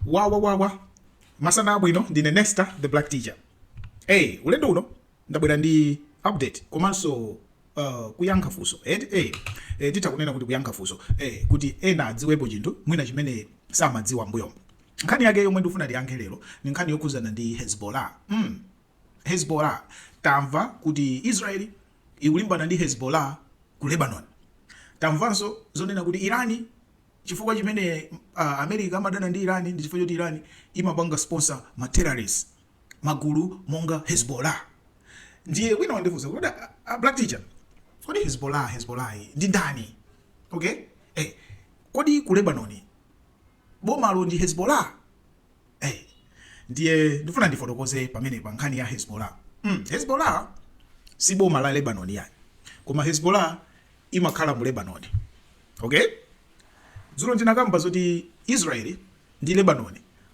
wawawawa masana abwino ndine nesta the black teacher hey, ulendo uno ndabwera ndi update komanso uh, kuyankha funso eti hey, eh, titha kunena kuti kuyankha funso eh, kuti ena adziwepo chinthu mwina chimene samadziwa mbuyomo nkhani yake yomwe ndikufuna tiyankhe lero ndi nkhani yokhuzana ndi hezbollah mm. hezbollah tamva kuti israeli ikulimbana ndi hezbollah ku lebanon tamvanso zonena kuti irani Chifukwa chimene a America amadana ndi Iran ndi chifukwa choti Iran imapanga sponsor ma terrorist, magulu monga Hezbollah. Ndiye wina wandifunsa kuti kodi a Black Teacher, kodi Hezbollah, Hezbollah iyi ndi ndani? Okay? Eh, kodi ku Lebanon, bomalo ndi Hezbollah? Hey, ndiye ndifuna ndifotokoze pamenepa nkhani ya Hezbollah. Mm, Hezbollah si boma la Lebanon ayi. Koma Hezbollah imakhala mu Lebanon. Okay? Dzulo ndinakamba zoti Israeli ndi Lebanon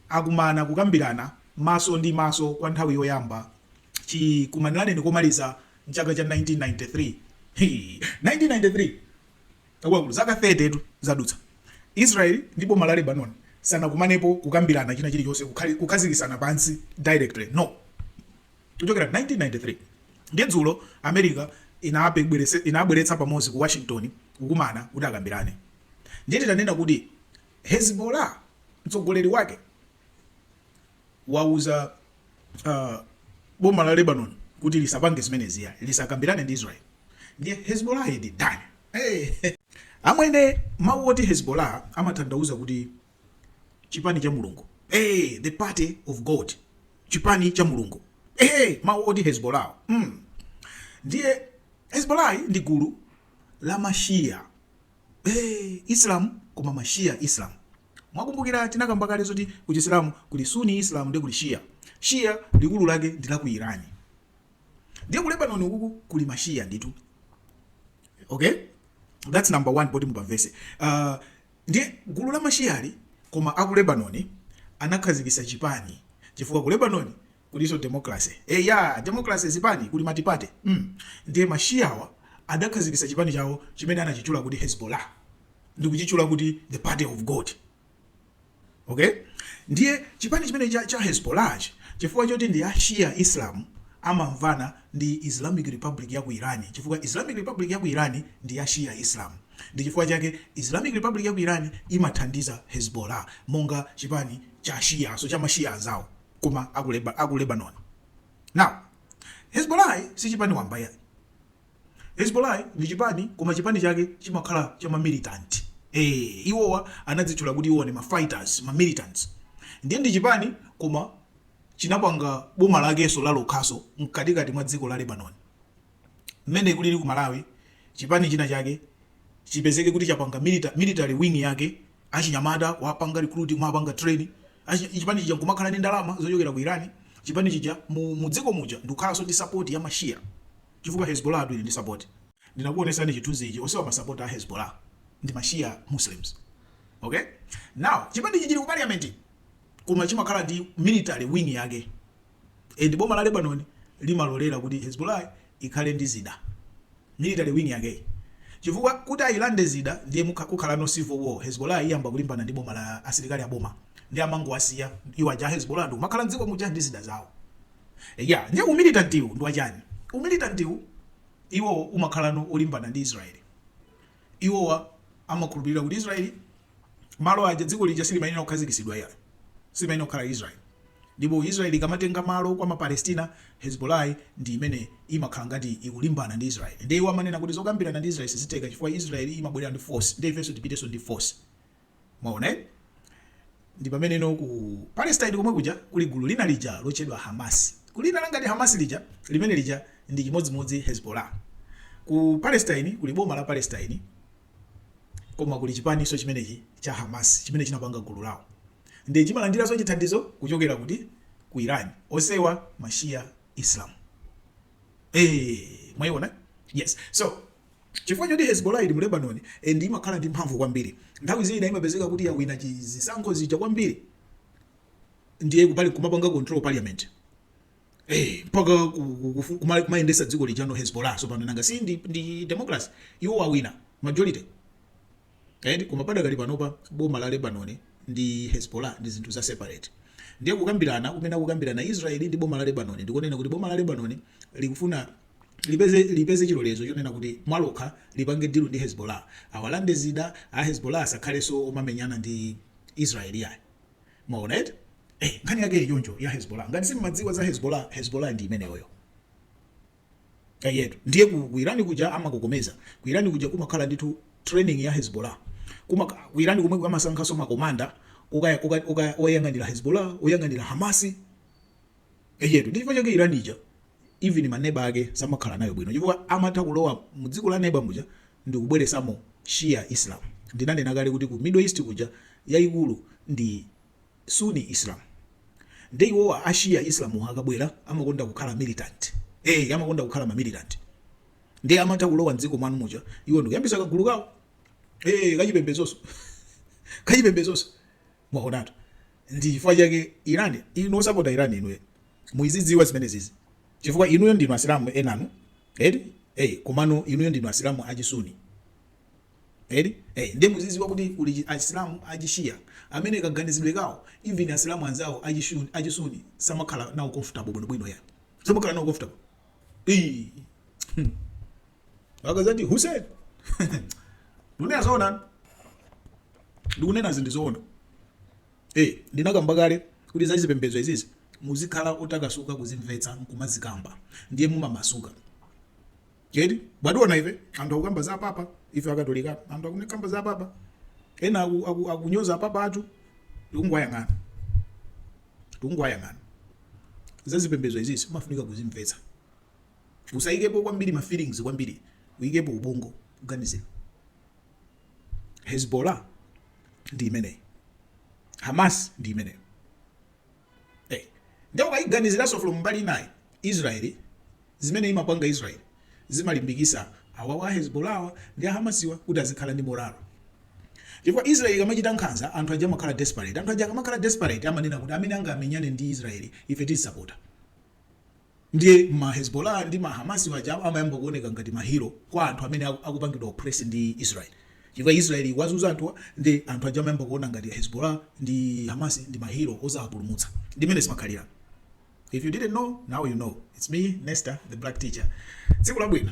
akumana kukambirana maso ndi maso kwa nthawi yoyamba chikumanireni komaliza mchaka cha 1993 1993 Akuluakulu, zaka 30 tu zadutsa. Israel ndi boma la Lebanon sanakumanepo kukambirana china chilichonse kukhali kukhazikisana pansi directly no kuchokera 1993 ndiye dzulo America inabweretsa inabweretsa pamodzi ku Washington kukumana kuti akambirane ndiye titanena kuti Hezbollah mtsogoleri wake wauza a boma la Lebanon kuti lisapange zimenezi eya lisakambirane ndi Israel ndiye Hezbollah ndi ndani hey. amwene mawu oti Hezbollah amathandauza kuti chipani cha Mulungu hey, the party of God chipani cha Mulungu hey, mawu oti Hezbollah mm. ndiye Hezbollah ndi gulu la mashia hey, Islam koma mashia Islam Mwakumbukira tinakamba kale zoti ku Chisilamu kuli Sunni Islam ndi kuli Shia. Shia likulu lake ndi la ku Iran. Ndiye ku Lebanon ukuku kuli ma Shia ndithu. Ok? That's number one pofunika mupamvese. Uh, ndiye gulu la ma Shiali koma aku Lebanon anakhazikisa chipani chifukwa ku Lebanon kuliso democracy eya democracy zipani kuli multiparty mm ndiye ma shiawa adakhazikisa chipani chawo chimene anachitchula kuti hezbollah ndikuchitchula kuti the party of god ok ndiye chipani chimene cha, cha hezbollah chi chifukwa choti ndi a shia islam amamvana ndi islamic republic ya ku irani chifukwa islamic republic ya ku irani ndi ya shia islam ndi chifukwa chake islamic republic ya ku irani imathandiza hezbollah monga chipani cha shia so cha mashia anzawo koma aku leba aku lebanoni now hezbolayi si chipani wamba yayi hezbolayi ndi chipani koma chipani chake chimakhala cha mamilitant eh iwowa anadzitchula kuti iwo ndi ma fighters ma militants ndiye ndi chipani koma chinapanga boma lakenso lalokhaso mkatikati mwa dziko la lebanoni mmene kulili ku malawi chipani china chake chipezeke kuti chapanga milita military wing yake achinyamata kuwapanga recruit kuwapanga train achi, chipani chija nkumakhala ndi ndalama zochokera ku iran chipani chija mu, mu dziko muja ndikukhalanso ndi support ya mashia chifukwa hezbollah yitu ili ndi support ndinakuonesani chithunzi ichi onsewa masapoti a hezbollah ndi mashia muslims okay now chipani ichi chili ku parliament koma chimakhala ndi military wing yake And boma la Lebanon limalolera kuti Hezbollah ikhale ndi zida, military wing yakeyi, chifukwa kuti ayilande zida ndiye kukha, kukhala no civil war, Hezbollah iyamba kulimbana ndi boma la, asilikali a boma, ndiye amangowasiya iwo aja a Hezbollah ndikumakhala m'dziko muja ndi zida zawo. Eya, ndiye u militant wu ndi wachani? U militant wu iwowo umakhalano wolimbana ndi Israel. Iwowa amakhulupirira kuti Israel malo aja, dziko lija silimayenera kukhazikitsidwa iyayi, silimayenera kukhala Israel. Ndipo Israel ikamatenga malo kwa ma Palestina, Hezbollah ndi imene imakhala ngati ikulimbana ndi Israel. Ndiye iwo amanena kuti zokambirana ndi Israel sizitheka chifukwa Israel imabwera ndi force, ndiye ifenso tipitenso ndi force. Mwaona eh? Ndi pameneno ku Palestine komwe kuja kuli gulu lina lija lotchedwa Hamas. Gulu lina lotchedwa Hamas lija, limene lija ndi chimodzimodzi Hezbollah. Ku Palestine kuli boma la Palestine Koma kuli chipaninso chimenechi cha Hamas chimene chinapanga gulu lawo ndiye chimalandiranso chithandizo kuchokera kuti? Ku Iran. Onsewa ma Shia Islam. Eee! Mwaiona? Yes. So, chifukwa choti Hezbollah ili mu Lebanon and imakhala ndi mphamvu kwambiri, nthawi zina imapezeka kuti yawina chi, zisankho zija kwambiri, ndiye kupali kumapanga control parliament. Hey, eh, mpaka kumayendesa dziko lijano Hezbollah sopano nanga si ndi, ndi democracy iwo wawina majority eti koma padakali panopa boma la Lebanon ndi Hezbollah ndi zinthu za separate ndiye kukambirana kumene akukambirana Israeli ndi boma la Lebanon ndikunena kuti boma la Lebanon likufuna lipeze lipeze chilolezo chonena kuti mwa lokha lipange dilu ndi Hezbollah awalande zida a Hezbollah asakhalenso omamenyana ndi Israeli ayi Mwaona eti? Eh, nkhani yake ili choncho ya Hezbollah. Ngati simmadziwa za Hezbollah, Hezbollah ndi imeneyoyo. Eyetu. Ndiye ku, ku Iran kuja amakokomeza. Ku Iran kuja kumakhala ndithu training ya Hezbollah. Kuma ku Iran komwe amasankhanso makomanda oyang'anira Hezbollah, oyang'anira Hamasi, eyetu ndi chifukwa chake Iran ija even maneba ake samakhala nayo bwino chifukwa amatha kulowa mu dziko la neba muja ndikubweresamo Shia Islam ndinanena kale kuti ku Middle East kuja yayikulu ndi Sunni Islam nde iwowa a Shia Islam akabwera amakonda kukhala ma militant eh amakonda kukhala ma militant nde amatha kulowa mdziko mwanu muja iwo ndikuyambisa kagulu kawo eh kachipembezonso kachipembezonso Mwaonatu ndichifukwa chake Iran, inu osapota Iran, inuyo muizidziwa zimenezizi chifukwa inuyo ndinu asilamu enanu eti ee komano inuyo ndinu asilamu achi Sunni eti ee ndiye muzidziwa kuti kuli asilamu achi Shia amene kaganizidwe kawo even asilamu anzawo achi Shuni achi Sunni samakhala nawo comfortable bwinobwino iyayi samakhala nawo comfortable ii hmm. Mpaka Zati Hussein ndunena zoona ndikunena zinthu zoona eh ndinakamba kale kuti za zipembedzo izizi muzikhala otakasuka kuzimvetsa nkumazikamba ndiye mumamasuka cheti bwationa ife anthu akukamba za Papa ife Akatolika anthu akukamba za Papa ena aku- aku- akunyoza Papa athu tikungwayang'ana tikungwayang'ana za zipembedzo izizi umafunika kuzimvetsa usayikepo kwambiri ma feelings kwambiri uyikepo ubongo uganizire Hezbollah ndi imeneyo Hamas ndi imeneyo hey. Eh, nde ukayiganiziranso from mbali inayi Israeli zimene imapanga Israeli zimalimbikisa awa a Hezbollah awa ndi a Hamasiwa kuti azikhala ndi moralo chifukwa Israeli ikamachita nkhanza anthu aja amakhala desperate anthu aja akamakhala desperate amanena kuti amene angamenyane ndi Israeli ife tisapota Ndiye ma Hezbollah ndi ma Hamas awa aja amayamba kuoneka ngati ma hero kwa anthu amene akupangidwa oppress ndi Israel. Chifukwa Israel ikuwazunza anthuwa nde anthu aja amayamba kuona ngati Hezbollah ndi Hamas ndi ma hero ozawapulumutsa. Ndi mmene zimakhalira. If you didn't know, now you know. It's me, Nesta, the black teacher. Tsiku labwino.